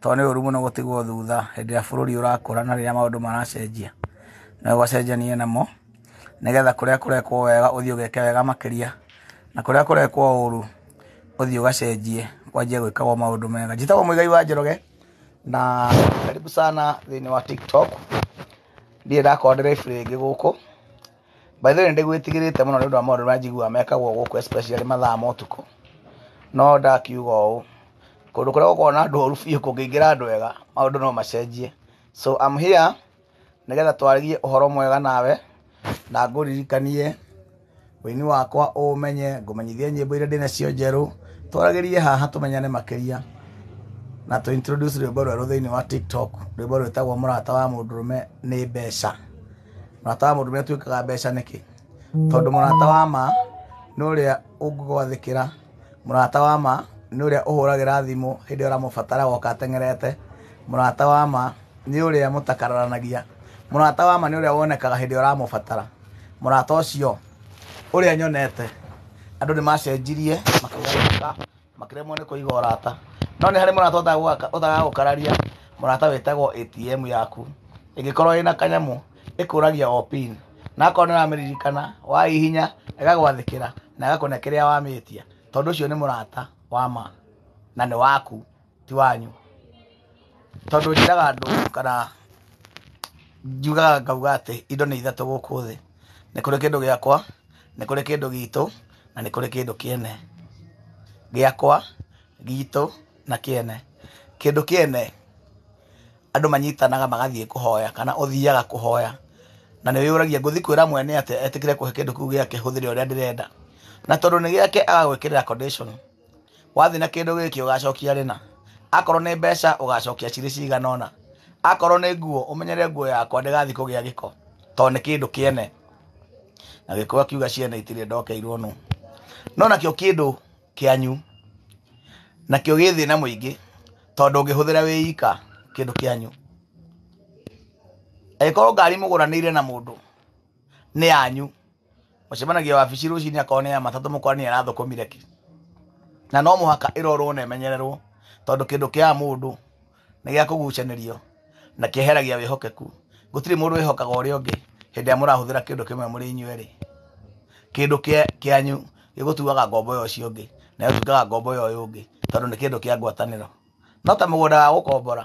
tondũ nĩ ũru mũno gũtigwo thutha hĩndĩ ĩrĩa bũrũri ũrakũra na rĩrĩa maũndũ maracenjia na ũgacenjania namo, nĩgetha kũrĩa kũrekwo wega ũthiĩ ũgeke wega makĩria, na kũrĩa kũrekwo ũru ũthiĩ ũgacenjie kwanjie gwĩkagwo maũndũ mega. Njĩtagwo Mũigai wa Njoroge na karibu sana thĩinĩ wa Tiktok, ndirĩ ndakorwo ndĩ live rĩngĩ gũkũ. By the way nĩ ndĩgwĩtigĩrĩte mũno nĩ ũndũ wa maũndũ marĩa njiguaga mekagwo gũkũ especially mathaa ma ũtukũ. No ndakiuga ũũ, kũndũ kũrĩa gũkoragwo na andũ oru biũ kũngĩingĩra andũ ega, maũndũ no macenjie. So I'm here nĩgetha twaragie ũhoro mwega nawe, na ngũririkanie ũini wakwa ũũmenye, ngũmenyithie nyĩmbo iria ndĩnacio njerũ, twaragĩrie haha tũmenyane makĩria, na tũ introduce rwĩmbo rwerũ thĩiniĩ wa TikTok, rwĩmbo rwĩtagwo mũrata wa mũndũrũme nĩ mbeca. mũrata wa mũndũ nĩ atuĩkaga mbeca nĩkĩ tondũ mũrata wa ma nĩ ũrĩa ũngĩgwathĩkĩra mũrata wa ma nĩ ũrĩa ũhũragĩra thimũ hĩndĩ ĩrĩa ũramũbatara agoka ateng'erete mũrata wa ma nĩ ũrĩa mũtakararanagia mũrata wa ma nĩ ũrĩa wonekaga hĩndĩ ĩrĩa ũramũbatara mũrata ũcio ũrĩa nyonete andũ nĩ macenjirie makĩgarũrũka. makĩremwo nĩ kũiga ũrata no nĩ harĩ mũrata ũtagaga gũkararia mũrata wĩtagwo ATM yaku ĩngĩkorwo ĩna kanyamũ ĩkũragia o pin na akorwo nĩ ũramĩririkana wahihinya ĩgagwathĩkĩra na ĩgakũne kĩrĩa wamĩtia tondũ ũcio nĩ mũrata wa ma na nĩ waku ti wanyu tondũ njĩraga andũ kana njugaga ngauga atĩ indo nĩ ithatũ gũkũ thĩ. Nĩ kũrĩ kĩndũ gĩakwa, nĩ kũrĩ kĩndũ gitũ, na nĩ kũrĩ kĩndũ kĩene. Gĩakwa, gitũ, na kĩene. Kĩndũ kĩene, andũ manyitanaga magathiĩ kũhoya kana ũthiaga kũhoya, na nĩ wĩyũragia ngũthiĩ kwĩra mwene atĩa etĩkĩre kũhe kĩndũ kĩu gĩake hũthĩre ũrĩa ndĩrenda? Na tondũ nĩ gĩake agagwĩkĩrĩra condition. wathiĩ na kĩndũ gĩkĩ ũgacokia rĩna akorwo nĩ mbeca ũgacokia cirĩ cigana ũna akorwo nĩ nguo ũmenyere nguo yakwa ndĩgathiĩ kũgĩa gĩko tondũ nĩ kĩndũ kĩene na gĩkũyũ akiuga ciene itirĩ ndokeirwo nũ no nakĩo kĩndũ kĩanyu nakĩo gĩ thĩna mũingĩ tondũ ũngĩhũthĩra wĩ ika kĩndũ kĩanyu angĩkorwo ngari mũgũranĩire na mũndũ nĩ yanyu Mũcemanagia wabici rũcinĩ akorwo nĩ ya matatũ mũkore nĩ arathũkũmire kĩ. Na no mũhaka ĩrorwo na ĩmenyererwo tondũ kĩndũ kĩa mũndũ nĩ gĩa kũgucanĩrio na kĩeheragia wĩhokeku. Gũtirĩ mũndũ wĩhokaga ũrĩa ũngĩ hĩndĩ ĩrĩa mũrahũthĩra kĩndũ kĩmwe mũrĩ inyuĩ erĩ. Kĩndũ kĩanyu gĩgũtuaga ngombo ya ũcio ũngĩ nayo ĩtuaga ngombo ya ũyũ ũngĩ tondũ nĩ kĩndũ kĩa ngwatanĩro. No ta mũgũnda wa gũkombora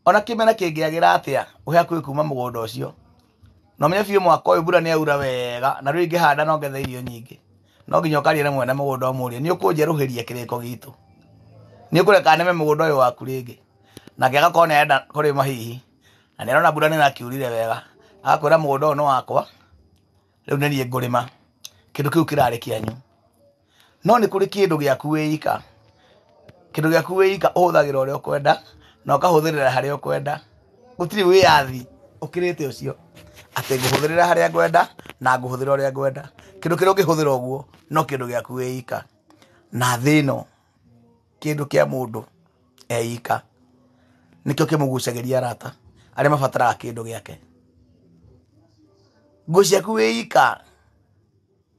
ona kĩmera kĩngĩagĩra atĩa ũhe hakuhĩ kuma mũgũnda ũcio na ũmenye biũ mwaka ũyũ mbura nĩ yaura wega na rĩu ingĩhanda no ngethe irio nyingĩ no nginya ũkaria na mwene mũgũnda ũmũrie nĩ ũkũnjerũhĩria kĩrĩko gitũ nĩ ũkũreka nĩme mũgũnda ũyũ waku rĩngĩ nake agakorwo nĩ arenda kũrĩma hihi na nĩ arona mbura nĩ ĩrakiurire wega agakwĩra mũgũnda ũyũ nĩ wakwa rĩu nĩ niĩ ngũrĩma kĩndũ kĩu kĩrarĩ kĩanyu. no nĩ kũrĩ kĩndũ gĩaku wĩ ika, kĩndũ gĩaku wĩ ika ũhũthagĩra ũrĩa ũkwenda na ũkahũthĩrĩra harĩa ũkwenda, gũtirĩ wĩyathi ũkĩrĩte ũcio atĩ ngũhũthĩrĩra harĩa ngwenda na ngũhũthĩra ũrĩa ngwenda, kĩndũ kĩrĩa ũngĩhũthĩra ũguo no kĩndũ gĩaku wĩ ika, na thĩ ĩno kĩndũ kĩa mũndũ e ika nĩkĩo kĩmũgucagĩria arata arĩa mabataraga kĩndũ gĩake, nguo ciaku wĩ ika.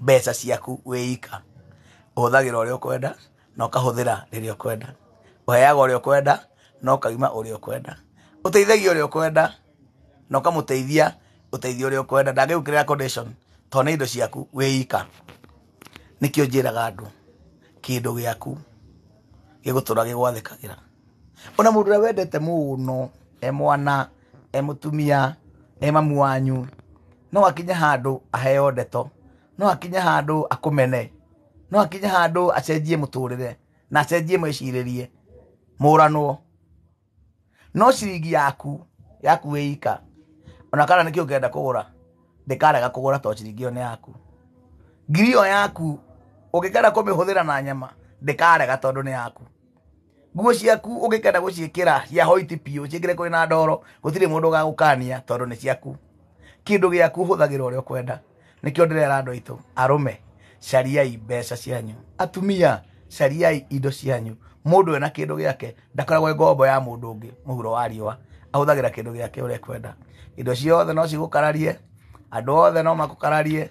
mbeca ciaku wĩ ika. Ũhũthagĩra ũrĩa ũkwenda na ũkahũthĩra rĩrĩa ũkwenda. Ũheaga ũrĩa ũkwenda na ũkaima ũrĩa ũkwenda. Ũteithagia ũrĩa ũkwenda na ũkamũteithia ũteithio ũrĩa ũkwenda. Ndangĩgũĩkĩrĩra condition to nĩ indo ciaku wĩ ika. Nĩkĩo njĩraga andũ kĩndũ gĩaku gĩgũtũra gĩgwathĩkagĩra. Ona mũndũ ũrĩa wendete mũno e mwana. e mũtumia e mamu wanyu no akinye handũ aheo ndeto no akinye handũ akũmene no akinye handũ acenjie mũtũrĩre na acenjie mwĩcirĩrie mũranwo no ciringi yaku yaku wĩ ika ona kana nĩkĩo ũngĩenda kũgũra ndĩkarega kũgũra to ciringi ĩyo nĩ yaku ngiri ĩyo yaku ũngĩkenda kũmĩhũthĩra na nyama ndĩkarega tondũ nĩ yaku nguo ciaku ũngĩkenda gũciĩkĩra cia hoiti biũ ciĩkĩre kũrĩ na ndoro gũtirĩ mũndũ ũgagũkania tondũ nĩ ciaku kĩndũ gĩaku hũthagĩra ũrĩa ũkwenda nĩkĩo ndĩrera andũ aitũ arũme cariai mbeca cianyu atumia cariai indo cianyu mũndũ ena kĩndũ gĩake ndakoragwo ngombo ya mũndũ ũngĩ mũhuro wa riũa ahũthagĩra kĩndũ gĩake ũrĩa ekwenda indo ciothe no cigũkararie andũ othe no makũkararie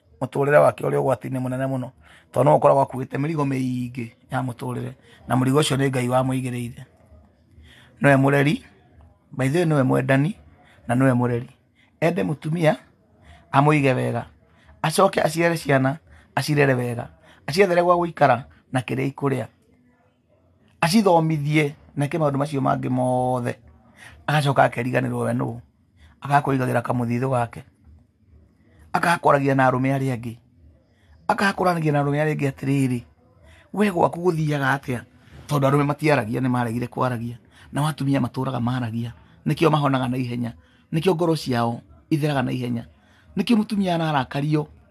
mũtũrĩre wake ũrĩ ũgwati-inĩ mũnene mũno tondũ no ũkoragwo akuĩte mĩrigo mĩingĩ ya mũtũrĩre na mũrigo ũcio nĩ ngai wamũigĩrĩire nĩwe mũreri by the way nĩwe mwendani na nĩwe mũreri ende mũtumia amũige wega acoke aciare ciana acirere wega aciethere gwa gũikara na kĩrĩa ikũrĩa acithomithie na eke maũndũ macio mangĩ mothe agacoka akeriganĩrwo we nũ agakwĩigagĩra kamũthithũ gake agakwaragia na arũme arĩa angĩ agakoranagia na arũme arĩa angĩ atĩrĩrĩ we gwaku gũthiaga atĩa tondũ arũme matiaragia nĩ maregire kwaragia nao atumia matũraga maragia nĩkĩo mahonaga na ihenya nĩkĩo ngoro ciao itheraga na ihenya nĩkĩo mũtumia ararakario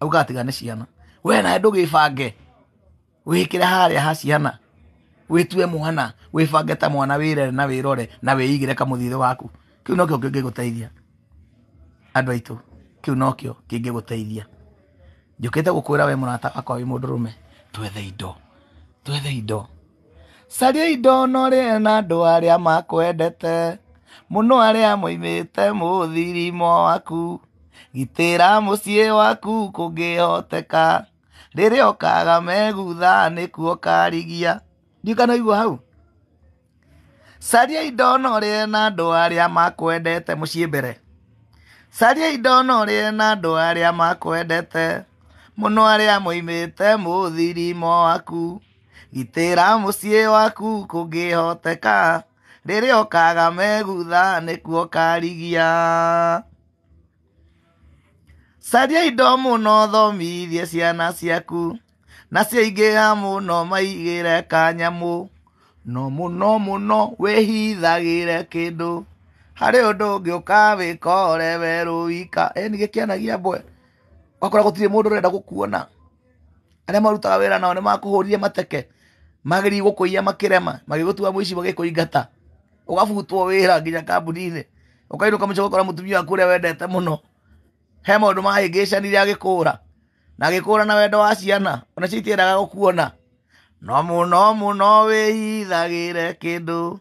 auga atiga nĩ ciana we nawe ndũgĩbange wĩkĩre harĩa ha ciana wĩtue mwana wĩbange ta mwana wĩrere na wĩrore na wĩigĩre kamũthithũ gaku kĩu nokĩo kĩngĩgũteithia andũ aitũ kĩu nokĩo kĩngĩgũteithia njũkĩte gũkwĩra we mũrata wakwa wĩ mũndũrũme twethe indo twethe indo Cariai ndonorĩe na andũ arĩa makwendete mũno arĩa moimĩte mũthirimo waku. Gitĩra mũciĩ waku kũngĩhoteka, rĩrĩa ũkaga megutha nĩkuo ũkarigia. Ndiũkanaigua hau. Cariai ndonorĩe na andũ arĩa makwendete mũciĩ mbere. Cariai ndonorĩe na andũ arĩa makwendete mũno arĩa moimĩte mũthirimo waku. gitĩra mũciĩ waku kũngĩhoteka rĩrĩa ũkaga megutha nĩkuo ũkarigia caria indo mũno thomithie ciana ciaku na ciaingĩha mũno maigĩre kanyamũ no mũno mũno wĩhithagĩre kĩndũ harĩ ũndũ ũngĩ ũkawĩkore we rũika ĩni gĩkĩanagia mbwe wakora gũtirĩ mũndũ ũrenda gũkuona arĩa marutaga wĩra nao nĩ makũhũrire mateke magĩrĩi gũkũiya makĩrema magĩgũtua mũici magĩkũingata ũgabutwo wĩra nginya kambuni-inĩ ũkainũka mũico ũgakora mũtumia waku ũrĩa wendete mũno he maũndũ mahĩngĩcanire agĩkũra na agĩkũra na wendo wa ciana ona cio itiendaga gũkuona no mũno mũno wĩhithagĩre kĩndũ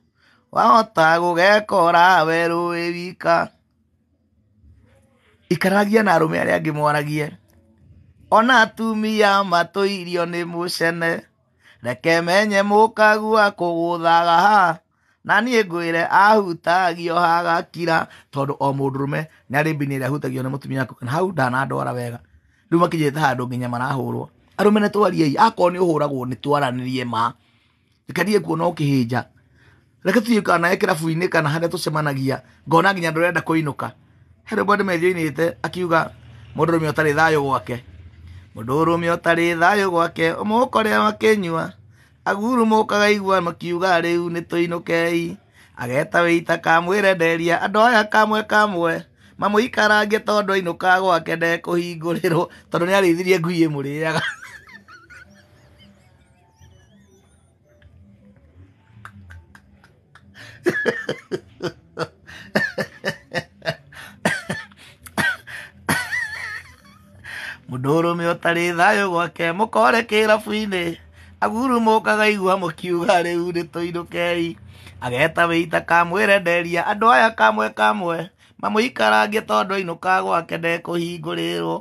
wahota gũgekora werũ wĩ wika Ikaragia na arũme arĩa angĩ mwaragie. Ona atumia matũirio nĩ mũcene. Reke menye mũkagua kũgũthaga ha. Na niĩ ngwĩre ahutagio hagakira. Tondũ o mũndũrũme nĩ arĩ mbini ĩrĩa ahutagio nĩ mũtumia kũu. Na hau ndanandwara wega, rĩu makinyĩte handũ nginya marahũrwo. Arũme nĩ twariei. Akorwo nĩ ũhũragwo nĩ twaranĩrie ma. reke ndige kuona ũkĩhĩnja reke tũthiĩ kana nawe kĩrabu-inĩ kana harĩa tũcemanagia ngona nginya ndũrenda kũinũka he rwĩmbo nĩ methi oinĩte akiuga mũndũ ũrũme ũtarĩ thayũ gwake mũndũ ũrũme ũtarĩ thayũ gwake ũmũkore wakĩnyua agurumũkaga igua makiuga rĩu nĩ tũinũkei ageta wĩita kamwĩre nderia andũ aya kamwe kamwe mamũikarange tondũ ainũka gwake ndekũhingũrĩrwo tondũ nĩ arĩithirie ngui ĩmũrĩaga mũndũrũme ũtarĩ thayũ gwake mũkore kĩrabu-inĩ agurumũkaga igua mũkiuga rĩu nĩ tũinũkei ageta wĩita kamwĩre nderia andũ aya kamwe kamwe mamũikarangie tondũ ainũka gwake ndekũhingũrĩrwo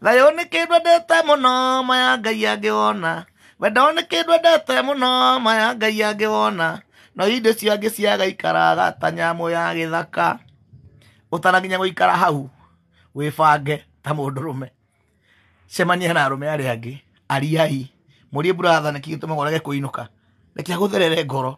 thayũ nĩ kĩndũ ndĩte mũno maya ngai angĩwona we ndone kĩndũ endete mũno maya ngai angĩ wona no hĩndĩ cio angĩ ciaga ikaraga ta nyamũ ya gĩthaka ũtanakinya gũikara hau wĩbange ta mũndũrũme cemania na arũme arĩa angĩ ariai mũrie buratha nĩkĩ gĩtũmaga ũrege kũinũka reke agũtherere ngoro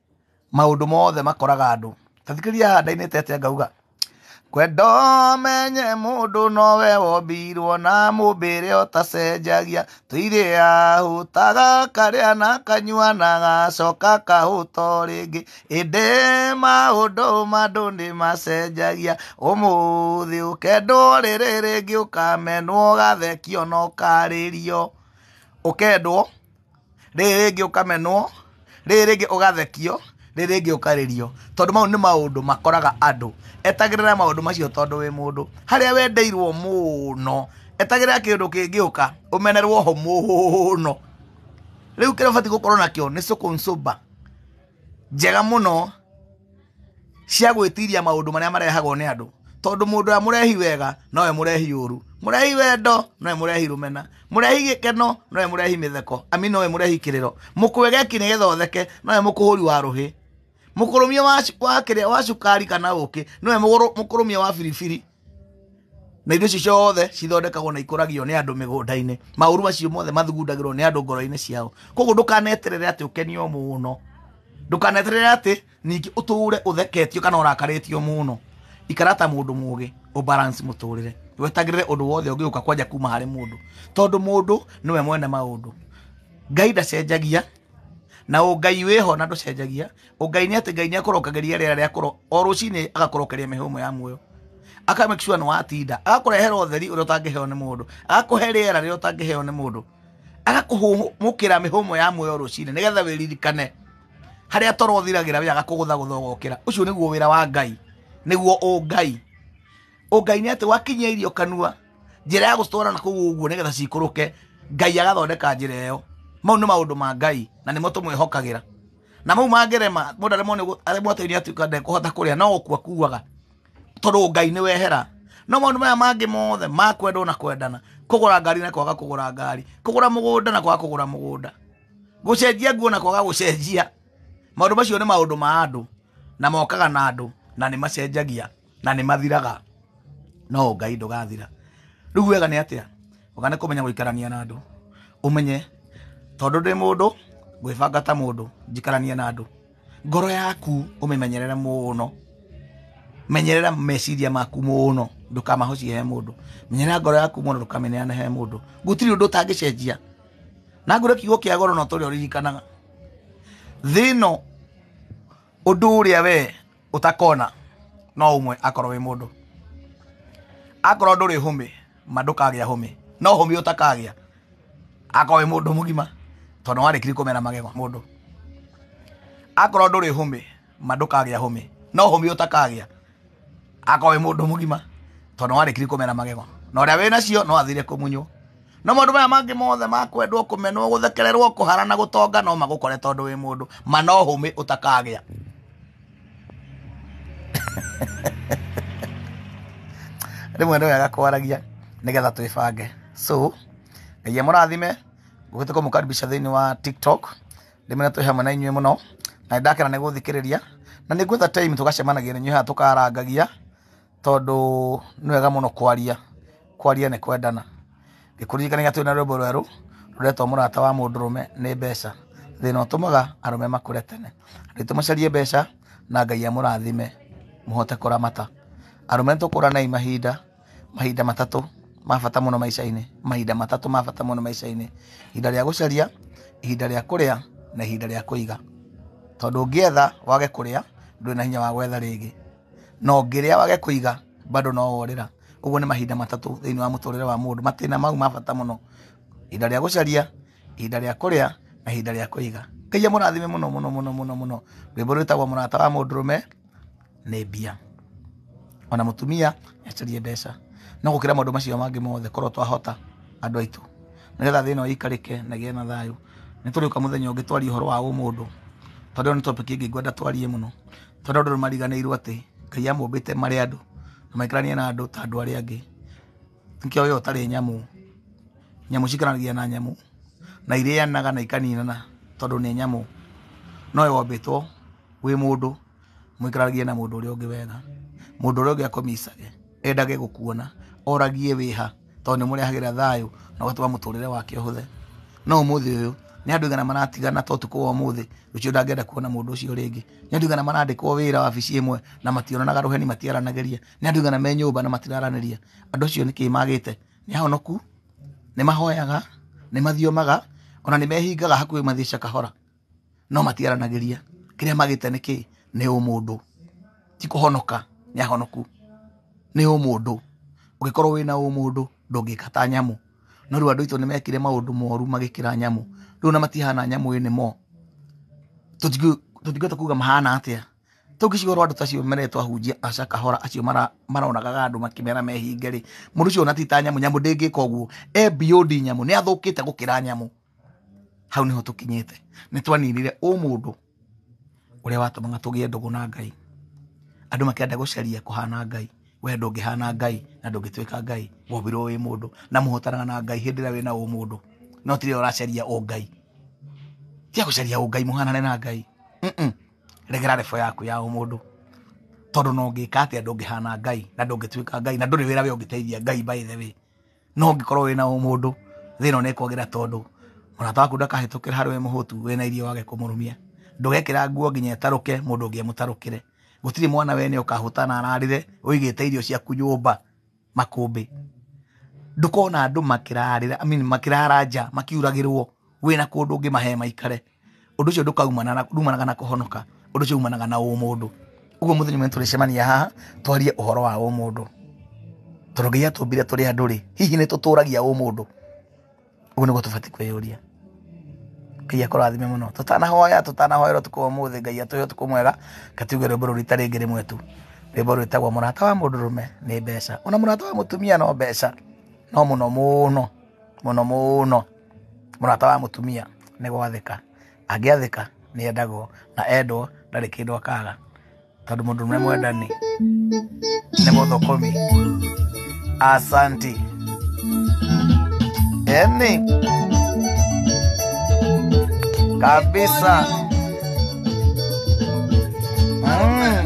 maũndũ mothe makoraga andũ. Ta thikĩrĩria haha ndainĩte atĩa ngauga, Kwenda ũmenye mũndũ nowe wombirwo na mũmbĩre ũtacenjagia, tũirĩ ahũtaga karĩa na kanyua na gacoka kahũta o rĩngĩ, ĩndĩ maũndũ ma andũ nĩ macenjagia, ũmũthĩ ũkendwo rĩrĩ rĩngĩ ũkamenwo, ũgathekio na ũkarĩrio. Ũkendwo? rĩrĩ rĩngĩ ũkamenwo rĩrĩ rĩngĩ ũgathekio rĩrĩ rĩngĩ ũkarĩrio tondũ mau nĩ maũndũ makoraga andũ etagĩrĩra maũndũ macio tondũ wĩ mũndũ harĩa wendeirwo mũno etagĩrĩra kĩndũ kĩngĩũka ũmenerwo ho mũno rĩu kĩrĩa ũbatiĩ gũkorwo nakĩo nĩ soko msumba. njega mũno cia gwĩtiria maũndũ marĩa marehagwo nĩ andũ tondũ mũndũ ũrĩa mũrehi wega nowe mũrehi ũru mũrehi wendo nowe mũrehi rũmena mũrehi gĩkeno nowe mũrehi mĩtheko ami nowe mũrehi kĩrĩro mũkwegeki nĩgetha ũtheke nowe mũkũhũri wa rũhĩ mũkũrũmia wa, wa, kĩrĩa, wa cukari kana ũkĩ nowe mũgũrũ- mũkũrũmia wa biribiri na indo icio ciothe cithondekagwo na ikũragio nĩ andũ mĩgũnda-inĩ maũru macio mothe mathugundagĩrwo nĩ andũ ngoro-inĩ ciao koguo ndũkaneterere atĩ ũkenio mũno ndũkaneterere atĩ ningĩ ũtũũre ũtheketio kana ũrakarĩtio mũno ikara ta mũndũ mũgĩ ũbalance mũtũrĩre wetagĩrĩre ũndũ wothe ũngĩũka kwanja kuma harĩ mũndũ tondũ mũndũ nĩwe mwene maũndũ ngai ndacenjagia na ũngai wĩho na ndũcenjagia ũngai nĩ atĩ ngai nĩ akũrokageria rĩera rĩa kũro o rũcinĩ agakũrokeria mĩhũmũ ya muoyo aka make sure nĩ watinda agakũrehera ũtheri ũrĩa ũtangĩheo nĩ mũndũ agakũhe rĩera rĩrĩa ũtangĩheo nĩ mũndũ agakũhũmũkĩra mĩhũmũ ya muoyo rũcinĩ nĩgetha wĩririkane harĩa toro ũthiragĩra we agakũgũthagũtha ũgokĩra ũcio nĩguo wĩra wa ngai nĩguo ũngai ũngai nĩ atĩ wakinyia irio kanua njĩra ya gũcitwara na kũu ũguo nĩgetha cikũrũke ngai agathondeka njĩra ĩyo mau nĩ maũndũ ma ngai na nĩmo tũmwĩhokagĩra na mau mangĩrema mũndũ aremwo nĩ gũ- aremwo atĩ nĩatuĩka ndekũhota kũrĩa no gũkua kuaga tondũ ngai nĩ wehera no maũndũ maya mangĩ mothe ma kwendwo na kwendana kũgũra ngari na kwaga kũgũra ngari kũgũra mũgũnda na kwaga kũgũra mũgũnda gũcenjia nguo na kwaga gũcenjia maũndũ macio nĩ maũndũ ma andũ na mokaga na andũ na nĩ macenjagia na nĩ mathiraga no ngai ndũgathira rĩu wega nĩ atĩa wega nĩ kũmenya gũikarania na andũ ũmenye tondũ ndĩ mũndũ ngwĩbanga ta mũndũ njikaranie na andũ ngoro yaku ũmĩmenyerere mũno menyerera meciria maku mũno ndũkamahocie he mũndũ menyerera ngoro yaku mũno ndũkamĩneane he mũndũ gũtirĩ ũndũ ũtangĩcenjia na ngũre kiugo kĩa goro no tũrĩa ũririkanaga thĩ ĩno ũndũ ũrĩa wee utakona no umwe akorwo wi mundu akorwo nduri humi ma ndukagia humi no humi utakagia akorwo wi mundu mugima tondu warikiri kumena magego mundu akorwo nduri humi ma ndukagia humi no humi utakagia akorwo wi mundu mugima tondu warikiri kumena magego na uria wina cio no athire kumunywo na maũndũ maya mangĩ mothe ma kwendwo kũmenwo gũthekererwo kũhara na gũtonga no magũkore tondũ wĩ mũndũ ma no hũmĩ ũtakagĩa rĩmwe nĩ wega kwaragia nĩgetha twĩbange so ngai amũrathime ngũgĩte kũmũkaribisha thĩinĩ wa tiktok rĩmwe na twĩ hamwe na inyuĩ mũno na nĩ ndakena nĩ gũthikĩrĩria na nĩ ngwetha time tũgacemanagia na inyuĩ haha tũkarangagia tondũ nĩ wega mũno kwaria kwaria nĩ kwendana ngĩkũririkanagia twĩ na rwĩmbo rwerũ rũretwo mũrata wa mũndũrũme nĩ mbeca thĩna ũtũmaga arũme makũre tene rĩtũ macarie mbeca na ngai amũrathime mũhote kũramata arũme nĩ tũkũranei mahinda mahinda matatũ ma bata mũno maica-inĩ mahinda matatũ ma bata mũno maica-inĩ ihinda rĩa gũcaria ihinda rĩa kũrĩa na ihinda rĩa kũiga tondũ ũngĩetha wage kũrĩa ndũrĩ na hinya wa gwetha rĩngĩ na ũngĩrĩa wage kũiga bado no worĩra. Ũguo nĩ mahinda matatũ thĩinĩ wa mũtũrĩre wa mũndũ, matĩna mau ma bata mũno, ihinda rĩa gũcaria, ihinda rĩa kũrĩa na ihinda rĩa kũiga. Ngai amũrathime mũno mũno mũno mũno mũno. Rwĩmbo rwĩtagwo mũrata wa mũndũrũme nĩ mbia. Ona mũtumia nĩ acarie mbeca. No gũkĩra maũndũ macio mangĩ mothe korwo twahota andũ aitũ, nĩgetha thĩ ĩno ĩikarĩke na ĩgĩe na thayũ. Nĩ tũrĩũka mũthenya ũngĩ twarie ũhoro wa ũmũndũ, tondũ ĩyo nĩ topic ĩngĩ ngwenda twarie mũno. tondũ andũ nĩ mariganĩirwo atĩ ngai amũmbĩte marĩ andũ na maikaranie na andũ ta andũ arĩa angĩ nĩkĩo we ũtarĩ nyamũ nyamũ cikaranagia na nyamũ na irĩanaga na ikaninana tondũ nĩ nyamũ no we wombĩtwo wĩ mũndũ mũikaranagie na mũndũ ũrĩa ũngĩ wega mũndũ ũrĩa ũngĩ akomicage endage gũkuona oragie wĩha tondũ nĩ mũrehagĩra thayũ na ũgatũma mũtũrĩre wake ũhũthe no ũmũthĩ ũyũ nĩ andũ igana maratigana to ũtukũ wa ũmũthĩ rũciũ ndangĩenda kuona mũndũ ũcio rĩngĩ nĩ andũ igana marandĩkwo wĩra wabici ĩmwe na mationanaga rũheni matiaranagĩria nĩ andũ igana me nyũmba na matiraranĩria andũ acio nĩkĩ magĩte nĩ ahonoku nĩ mahoyaga nĩ mathiomaga ona nĩ mehingaga hakuhĩ mathiĩce kahora no matiaranagĩria kĩrĩa magĩte nĩkĩ nĩ ũmũndũ ti kũhonoka nĩ ahonoku nĩ ũmũndũ ũngĩkorwo wĩna ũmũndũ ndũngĩka ta nyamũ no rĩu andũ aitũ nĩ mekire maũndũ moru magĩkĩra nyamũ rĩu na matihana nyamũ ĩnĩ mo tũtingĩhota kuga mahana atĩa tũngĩciga ũhoro andũ ta acio mere twahunjia aca kahora acio mara- maronagaga andũ makĩmera mehinge rĩ mũndũ ũcio ona ti ta nyamũ nyamũ ndĩngĩka ũguo e beyond nyamũ nĩ athũkĩte gũkĩra nyamũ hau nĩho tũkinyĩte nĩ twaninire ũmũndũ ũrĩa watũmaga tũgĩe ndũgũ na Ngai andũ makĩenda gũcaria kũhana Ngai we ndũngĩhana Ngai na ndũngĩtuĩka Ngai wombirwo wĩ mũndũ na mũhotanaga na Ngai hĩndĩ ĩrĩa wĩna ũmũndũ no ti rĩrĩa ũracaria ũ Ngai tia gũcaria ũ Ngai mũhanane na Ngai Mm-mm. regera rebo yaku ya ũmũndũ tondũ no ngĩka atĩa ndũngĩhana Ngai na ndũngĩtuĩka Ngai na ndũrĩ wĩra we ũngĩteithia Ngai by the way no ũngĩkorwo wĩna ũmũndũ thĩna nĩ kwagĩra tondũ mũrata waku ndakahĩtũkĩra harĩ we mũhũtu wĩna irio wage kũmũrumia ndũgekĩra nguo nginya ĩtarũke mũndũ ũngĩ amũtarũkĩre gũtirĩ mwana wene ũkahũta na ararĩre ũigĩte irio ciaku nyũmba makũmbĩ ndũkona andũ makĩrarĩra I mean makĩrara nja makiuragĩrwo wĩna kũndũ ũngĩmahe maikare. ũndũ ũcio ndũkaumana na- ndumanaga na kũhonoka ũndũ ũcio umanaga na ũmũndũ ũguo mũthenya ũmwe tũrĩcemania haha twarie ũhoro wa ũmũndũ tondũ ngai atũmbire tũrĩ andũ rĩ hihi nĩ tũtũragia ũmũndũ ũguo nĩguo tũbatiĩ kwĩyũria ngai akũrathime mũno tũtanahoya tũtanahoera ũtukũ wa ũmũthĩ ngai atũhe ũtukũ mwega katiuge rwĩmbo rũrũ rita rĩngĩ rĩmwe tu rwĩmbo rwĩtagwo mũrata wa mũndũ rũme nĩ mbeca ona mũrata wa mũtumia no mbeca no mũno mũno mũno mũno mũrata wa mũtumia nĩ gwathĩka angĩathĩka nĩ endagwo na endwo ndarĩ kĩndũ akaga tondũ mũndũ ũrĩa mwendani nĩ mũthũkũmi asanti eni kabisa mm.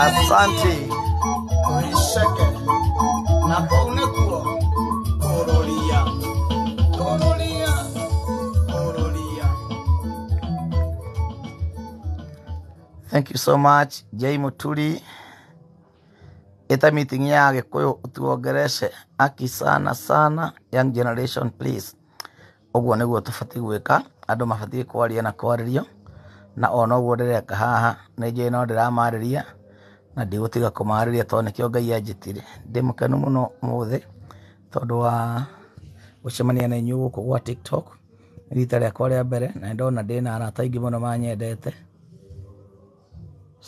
Asante. Oisheke na kũu nĩkuo kũrũria kũrũria kũrũria Thank you so much, Jay Muturi. Ita meeting ya Gikuyu utuongereshe. Aki sana sana, young generation please. Ũguo nĩguo tũbatiĩ gwĩka, andũ mabatiĩ kwaria na kwarĩrio, na o noguo ndĩreka haha, nĩ njũĩ no ndĩramarĩria, na ndigũtiga kũmarĩria tondũ nĩkĩo Ngai anjĩtire. Ndĩ mũkenu mũno ũmũthĩ, tondũ wa gũcemania na inyuĩ gũkũ gwa TikTok, nĩ rita rĩakwa rĩa mbere, na nĩ ndona ndĩna arata aingĩ mũno manyendete,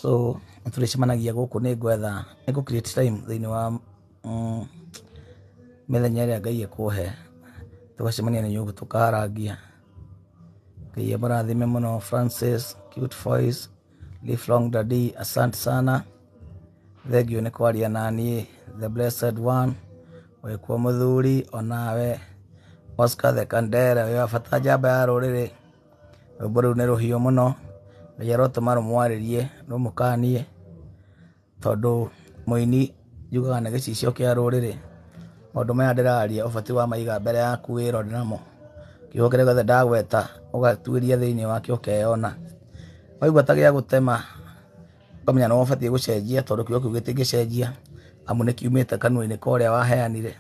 so nĩ tũrĩcemanagia gũkũ nĩ ngwetha, nĩ ngũ create time thĩiniĩ wa. mĩthenya ĩrĩa Ngai ekũhe tũgacemania na nyũngũ tũkarangia. Ngai amũrathime mũno Francis, cute voice, live long daddy, asante sana. Thengiũ nĩ kwaria na niĩ the blessed one wĩkuo mũthuri onawe Oscar the Kandere wĩ wa bata njamba ya rũrĩrĩ. Rwĩmbo rũu nĩ rũhiũ mũno, Ngai arotũma rũmwarĩrie rũmũkanie. Tondũ mũini yugaga nĩ gĩcicio kĩa rũrĩrĩ, maũndũ maya ndĩraria ũbatiĩ wa maiga mbere yaku wĩrore namo. Kiugo kĩrĩa gĩothe ndagweta ũgatuĩria thĩiniĩ wakĩo ũkeyona. Waigua ta gĩa gũtema ũkamenya nĩ we ũbatiĩ gũcenjia tondũ kiugo kĩu gĩtingĩcenjia amu nĩ kiumĩte kanua-inĩ ka ũrĩa waheanire.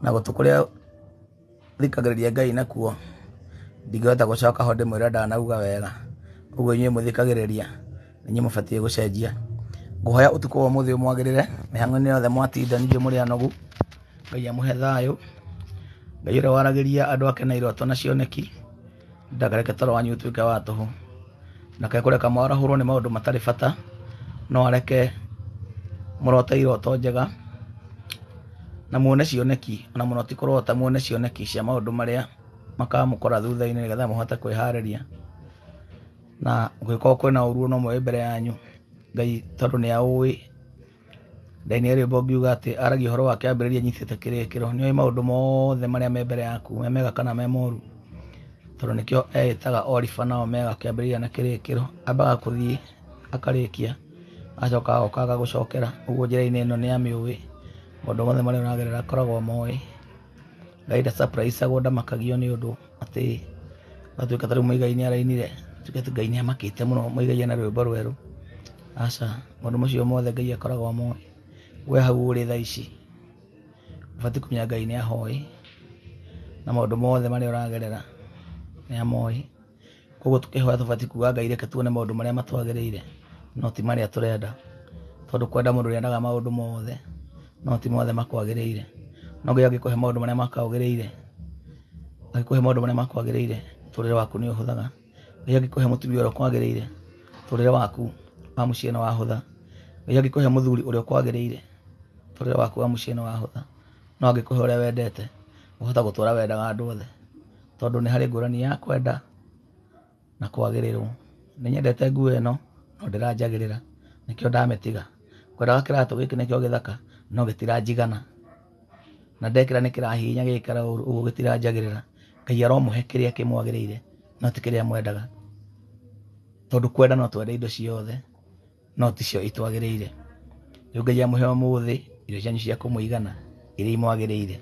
Na gũtũ kũrĩa thikagĩrĩria ngai nakuo ndingĩhota gũcoka ho ndĩmwĩra ndanauga wega ũguo inyuĩ mũthikagĩrĩria inyuĩ mũbatiĩ gũcenjia ngũhoya ũtukũ wa ũmũthĩ ũmwagĩrĩre mĩhang'o-inĩ yothe mwatinda ningĩ mũrĩ anogu ngai amũhe thayũ ngai ũrĩa waragĩria andũ ake na iroto na cioneki ndakareke toro wanyu ũtuĩke wa tũhũ ndakae kũreka mwarahũrwo nĩ maũndũ matarĩ bata no areke mũrote iroto njega na muone cioneki ona mũno ti kũrota muone cioneki cia maũndũ marĩa makamũkora thutha-inĩ nĩgetha mũhote kwĩharĩria na gũgĩkorwo kwĩna ũru no moe mbere yanyu ngai tondũ nĩ aũĩ Ngai nĩ rĩmbo ngiuga atĩ aragia ũhoro wa kĩambĩrĩria nyitĩte kĩrĩkĩro nĩ oĩ maũndũ mothe marĩa me mbere yaku me mega kana me moru tondũ nĩkĩo eĩtaga oriba na omega kĩambĩrĩria na kĩrĩkĩro ambaga kũthiĩ akarĩkia agacoka agoka agagũcokera ũguo njĩra-inĩ ĩno nĩ amĩũĩ maũndũ mothe marĩa ũragerera akoragwo amoĩ Ngai nda surprise agwo ndamakagio nĩ ũndũ atĩ watuĩka ta rĩu Muigai nĩ arainire tuge atĩ Ngai nĩ amakĩte mũno Muigai ena rwĩmbo rwerũ. Aca, maũndũ macio mothe Ngai akoragwo amoĩ. We hau ũrĩ thaa ici ũbatiĩ kũmenya Ngai nĩ ahoĩ na maũndũ mothe marĩa ũragerera nĩ amoĩ. koguo tũkĩhoya tũbatiĩ kuga ngai reke tuone maũndũ marĩa matwagĩrĩire no ti marĩa tũrenda tondũ kwenda mũndũ rĩendaga maũndũ mothe no ti mothe makwagĩrĩire no ngai angĩkũhe maũndũ marĩa makwagĩrĩire angĩkũhe maũndũ marĩa makwagĩrĩire tũrĩre waku nĩ ũhũthaga ngai angĩkũhe mũtumia ũrĩa ũkwagĩrĩire tũrĩre waku wa mũciĩ nĩ wahũtha ngai angĩkũhe mũthuri ũrĩa ũkwagĩrĩire tũrĩre waku wa mũciĩ nĩ wahũtha no angĩkũhe ũrĩa wendete ũhota gũtũra wendaga andũ othe tondũ nĩ harĩ ngũrani ya kwenda na kwagĩrĩrwo nĩ nyendete nguo ĩno no ndĩranjagĩrĩra nĩkĩo ndamĩtiga ngwendaga kĩratũ gĩkĩ nĩkĩo gĩthaka no gĩtiranjigana na ndekĩra nĩ kĩrahihinya gĩgĩkara ũru ũguo gĩtiranjagĩrĩra ngai aromũhe kĩrĩa kĩmwagĩrĩire no ti kĩrĩa mwendaga tondũ kwenda no twende indo ciothe no ticio itwagĩrĩire. Rĩu Ngai amũhe ũmũthĩ irio cianyu cia kũmũigana iria imwagĩrĩire.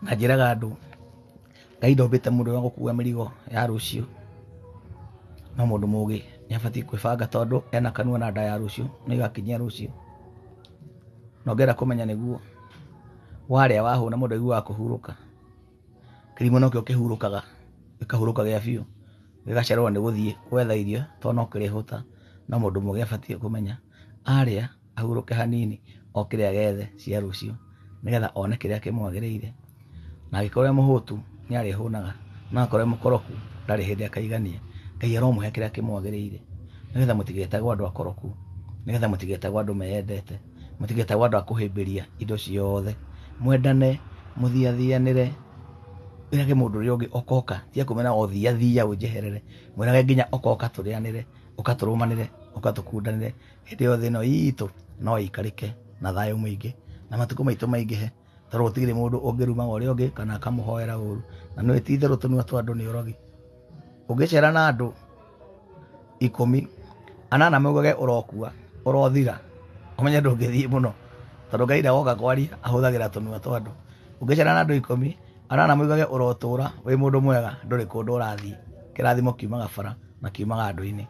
Na njĩraga andũ Ngai ndombĩte mũndũ wa gũkua mĩrigo ya rũciũ, no mũndũ mũgĩ nĩ abatiĩ kwĩbanga tondũ ena kanua na nda ya rũciũ nĩ ĩgakinyia rũciũ. Na ũngĩenda kũmenya nĩguo, warĩa wahũna mũndũ aiguaga kũhurũka. kĩrimũ nokĩo kĩhurũkaga gĩkahurũka gĩa biũ gĩgacererwo nĩ gũthiĩ gwetha irio tondũ no kĩrĩhũta. No mũndũ mũgĩ abatiĩ kũmenya arĩa ahurũke hanini oke kĩrĩa gethe cia rũciũ nĩ getha one kĩrĩa kĩmwagĩrĩire. Na angĩkorwo e mũhũtu nĩ arĩhũnaga no akorwo e mũkoroku ndarĩ hĩndĩ akaigania. Ngai aromũhe kĩrĩa kĩmwagĩrĩire nĩ getha mũtigetagwo andũ akoroku, nĩ getha mũtigetagwo andũ meyendete. mũtigetagwo andũ a kũhĩmbĩria indo ciothe mwendane mũthiathianĩre wĩrage mũndũ ũrĩa ũngĩ okoka tiga kũmena o thiathia ũnjeherere mwĩrage nginya okoka tũrĩanĩre ũkatũrũmanĩre ũkatũkundanĩre hĩndĩ yothe ĩno itũ no ĩikarĩke na thayũ mũingĩ na matukũ maitũ maingĩhe tondũ gũtirĩ mũndũ ũngĩrumaga ũrĩa ũngĩ kana akamũhoera ũru na nĩ ti itherũ tũnua twa andũ nĩ ũrogi ũngĩcera na andũ ikũmi anana maugage ũrokua ũrothira ũmenye ndũngĩthiĩ mũno tondũ ngai ndagoka kwaria ahũthagĩra tũnua twa andũ ũngĩcera na andũ ikũmi anana maugage ũrotũra wĩ mũndũ mwega ndũrĩ kũndũ ũrathiĩ kĩrathimo kiumaga bara na kiumaga andũ-inĩ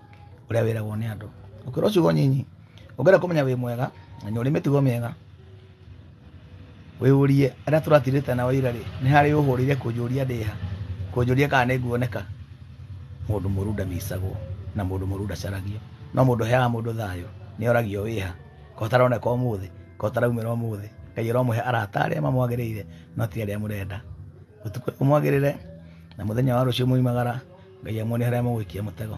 ũrĩa wĩragwo nĩ andũ ũkĩrwo ciugo nyinyi ũngĩenda kũmenya wĩ mwega menya ũrĩ mĩtugo mĩega Wĩyũrie, arĩa tũratigĩte nao ira-rĩ, nĩ harĩ ũhũrĩire kũnjũria ndĩ ha, kũnjũria kana nĩ nguoneka? Mũndũ mũũru ndamicagwo, na mũndũ mũũru ndacaragio, no mũndũ ũheaga mũndũ thayũ nĩ oragio wĩ ha, kaĩ ũtaroneka ũmũthĩ, kaĩ ũtaraumĩra ũmũthĩ? Ngai aromũhe arata arĩa mamwagĩrĩire no ti arĩa mũrenda. Ũtukũ ũyũ mwagĩrĩre, na mũthenya wa rũciũ mwaumagara, Ngai amũonie harĩa mũgũikia mũtego.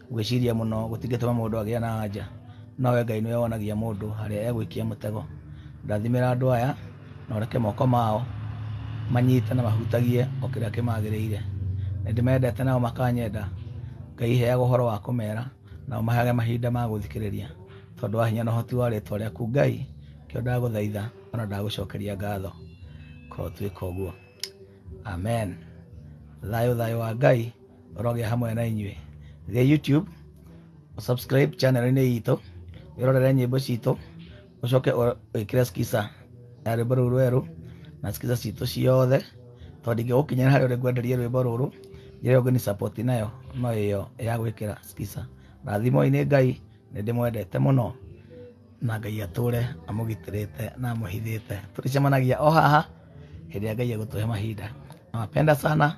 Gwĩciria mũno gũtingĩtũma mũndũ agĩa na anja, nowe Ngai nĩwe wonagia mũndũ harĩa egũikia mũtego. Rathimĩra andũ aya na ũreke moko mao manyite na mahutagie o kĩrĩa kĩmagĩrĩire. Nĩndĩmendete nao makanyenda, Ngai heaga ũhoro wa kũmera na ũmaheage mahinda ma gũthikĩrĩria. Tondũ wa hinya na ũhoti wa rĩtwa rĩaku Ngai, nĩkĩo ndagũthaitha ona ndagũcokeria ngatho. Korwo twĩka ũguo. Amen. Thayũ thayũ wa Ngai roge hamwe na inyuĩ gĩ youtube subscribe channel-inĩ itũ wĩrorere nyĩmbo citũ ũcoke ũ- wĩkĩre skiza ya rwĩmbo rũu rwerũ na skiza citũ ciothe tondũ ingĩgũkinyĩra harĩa ũrĩ ngwenderie rwĩmbo rũrũ njĩra ĩyo ngĩni support nayo no ĩyo ya gwĩkĩra skiza rathimo-inĩ ngai nĩ ndĩmwendete mũno na ngai atũre amũgitĩrĩte na amũhithĩte tũrĩcemanagia o haha hĩndĩ ĩrĩa ngai egũtũhe mahinda nawapenda sana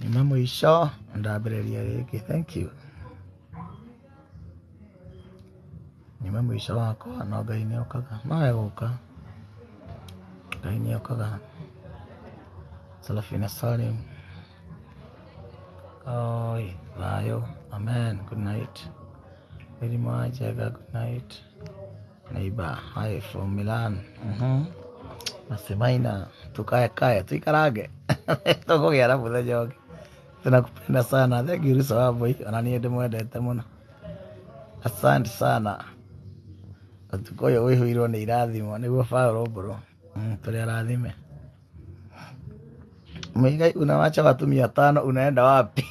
nyuma mũico ndambĩrĩria gĩkĩ thank you nyuma mũico wakwa no ngai nĩ okaga no egũka ngai nĩ okaga salafina salim Oi, vayo. Amen. Good night. Very much. Ega, good night. Neighbor, hi from Milan. Mhm. Nasemaina, tukae kae, tuikarage. Tũkũgĩa na mũthenya ũngĩ. Tunakupenda sana. Thank you Rusa Wambui. Ona niĩ ndĩmwendete mũno. Asante sana. Ũtukũ ũyũ wĩhũirwo nĩ irathimo nĩguo Paulo mbũrũ. Mm, Tũrĩ arathime. Muigai unawacha watu mia tano unaenda wapi?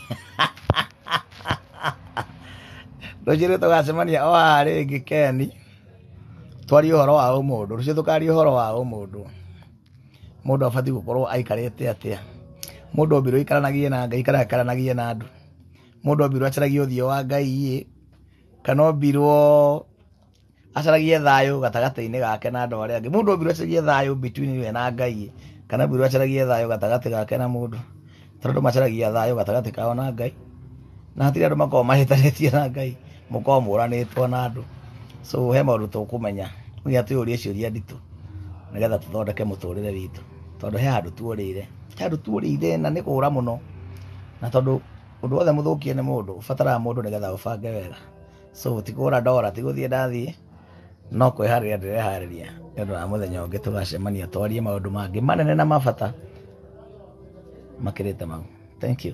Rũciũ tũgacemania o haha rĩngĩ Keni, twarie ũhoro wa ũmũndũ. Rũciũ tũkaria ũhoro wa ũmũndũ. Mũndũ abatiĩ gũkorwo aikarĩte atĩa? Mũndũ ombirwo aikaranagie na Ngai kana aikaranagie na andũ? Mũndũ ombirwo acaragie ũthiũ wa Ngai ĩ, kana ombirwo acaragie thayũ gatagatĩ-inĩ gake na andũ arĩa angĩ mũndũ ombirwo acaragie thayũ between we na ngai kana ombirwo acaragie thayũ gatagatĩ gake na mũndũ tondũ andũ macaragia thayũ gatagatĩ kao na ngai na hatirĩ andũ makoragwo mahĩtanĩtie na ngai mũkoragwo mũranĩtwo na andũ so he maũndũ tũkũmenya nginya twĩyũrie ciũria nditũ nĩgetha tũthondeke mũtũrĩre witũ tondũ he handũ tuorĩire he handũ tuorĩire na nĩ kũũra mũno na tondũ ũndũ wothe mũthũkie nĩ mũndũ ũbataraga mũndũ nĩgetha ũbange wega so ti kũgũra ndora ti gũthiĩ ndathiĩ no kwĩharĩria ndĩreharĩria nĩ ũndũ wa mũthenya ũngĩ tũgacemania twarie maũndũ mangĩ manene na mabata makĩrĩte mau thank you